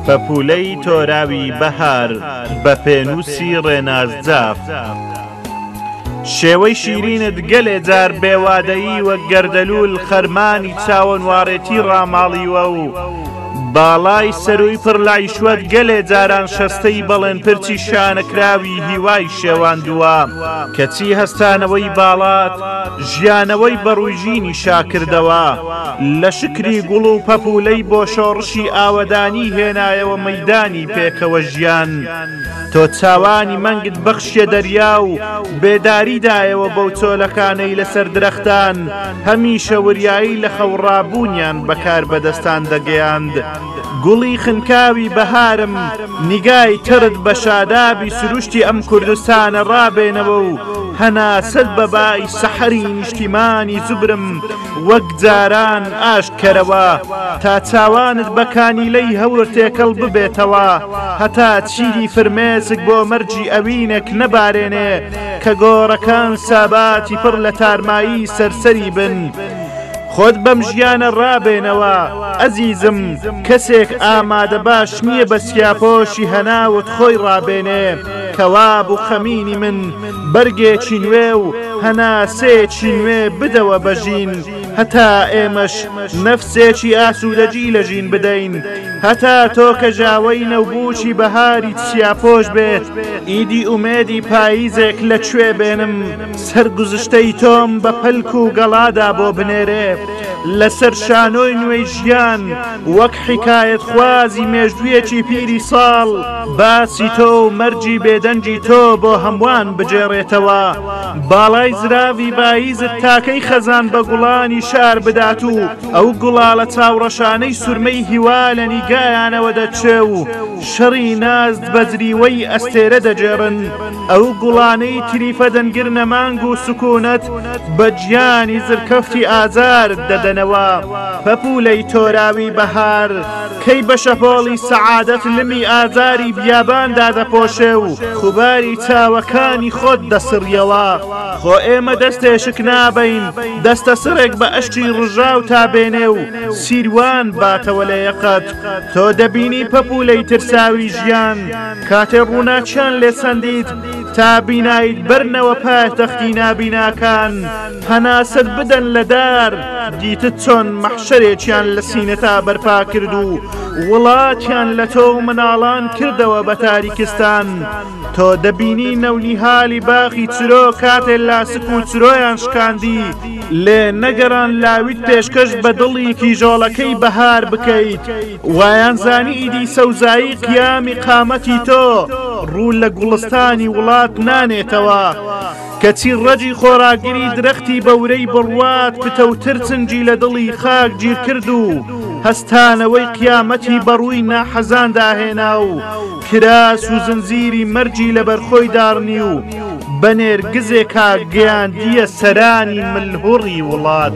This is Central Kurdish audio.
پەپوولەی تۆراوی بەهار بە پێنووسی ڕێناز جاف. شێوەی شیرینت گەلێ جار بێوادەیی وە گەردەلوول خەرمانی چاوەنواڕێتی ڕاماڵیوە و باڵای سەرووی پڕ لایشوەت گەلێ جاران شەستەی بەڵێن پرچی شانەکراوی هیوای شێواندووە کەچی هەستانەوەی باڵات ژیانەوەی بەڕووژینی شاکردەوە لە شکری گوڵ و پەپولەی بۆ شۆڕشی ئاوەدانی هێنایەوە مەدانی پێکەوە ژیان تۆ چاوانی مەنگت بەخشیە دەریا و بێداریدایەوە بەو چۆلەکانەی لەسەر درەختان هەمیشە وریایی لە خەوڕابوونیان بە کاربەدەستان دەگەیاند، گوڵی خنکاوی بەهارم، نیگای تڕت بە شادابی سروشتی ئەم کوردستانە ڕابێنەوە و هەناسەت بە بای سەحەری نیشتیمانی زوبرم وەک جاران ئاشت کەرەوە تا چاوانت بە کانیلەی هەور تێکەڵ ببێتەوە هەتا چیدی فرمێسک بۆ مەرگی ئەوینەک نەبارێنێ کە گۆڕەکان ساباتی پڕ لە تارمایی سەرسەری بن خۆت بەم ژیانە ڕابێنەوە ئەزیزم کەسێک ئامادە باش نییە بە سیاپۆشی هەناوت خۆی ڕابێنێ کەوا بوو خەمینی من بەرگێکی نوێ و هەناسەیەکی نوێ بدەوە بەژین هەتا ئێمەش نەفسێکی ئاسوودەجی لە ژین بدەین، هەتا تۆ کە ژاوەی نەوبووکی بەهاری چیاپۆش بێت، ئیدی ئومێدی پاییزێک لە کوێ بێنم، سەرگوزشتەی تۆم بە پەلک و گەڵادا بۆ بنێرێ، لەسەر شانۆی نوێی ژیان، وەک حیکایەتخوازی مێژوویەکی پیری ساڵ، باسی تۆ و مەرگی بێدەنگی تۆ بۆ هەمووان بگێڕێتەوە. باڵای زراوی بایزد تاکەی خەزان بە گوڵانی شار بدات و ئەو گوڵاڵە چاوڕەشانەی سورمەی هیوا لە نیگایانەوە دەچێ و شەڕی نازد بە جریوەی ئەستێرە دەگێڕن ئەو گوڵانەی تریفە دەنگر نەمانگ و سکونت بە گیانی زرکەفتی ئازارد دەدەنەوە پەپولەی تۆراوی بەهار کەی بە شەپۆڵی سەعادەت لمی ئازاری بیابان دادەپۆشێ و خوباری چاوەکانی خۆت دەسڕیەوە خۆ ئێمە دەستێشک نابین دەستە سڕێک بە ئەشتی ڕژاو تا بێنێ و سیروان باتەوە لە یەقەت تۆ دەبینی پەپولەی ترساوی ژیان کاتێ ڕووناچیان لێ سەندیت تا بینایت بەرنەوە پایتەختی نابیناکان هەناسەت بدەن لە دار، دیتت چۆن مەحشەرێکیان لە سینەتا بەرپا کرد و وڵاتیان لە تۆ و مناڵان کردەوە بە تاریکستان، تۆ دەبینی نەونیهالی باخی چرۆ کاتێ لاسک و چرۆیان شکاندی، لێ نەگەڕان لاویت پێشکەش بە دڵی کیژۆڵەکەی بەهار بکەیت، وایان زانی ئیدی سەوزایی قیامی قامەتی تۆ ڕوو لە گوڵستانی وڵات نانێتەوە. کەچی ڕەگی خۆراگری درەختی بەورەی بڕوات پتەوتر چنگی لە دڵی خاک گیرکرد و هەستانەوەی قیامەتی بەڕووی ناحەزاندا هێنا و کراس و زنجیری مەرگی لەبەرخۆی داڕنی و بە نێرگزێکا گەیاندییە سەرانی ملهوڕی وڵات.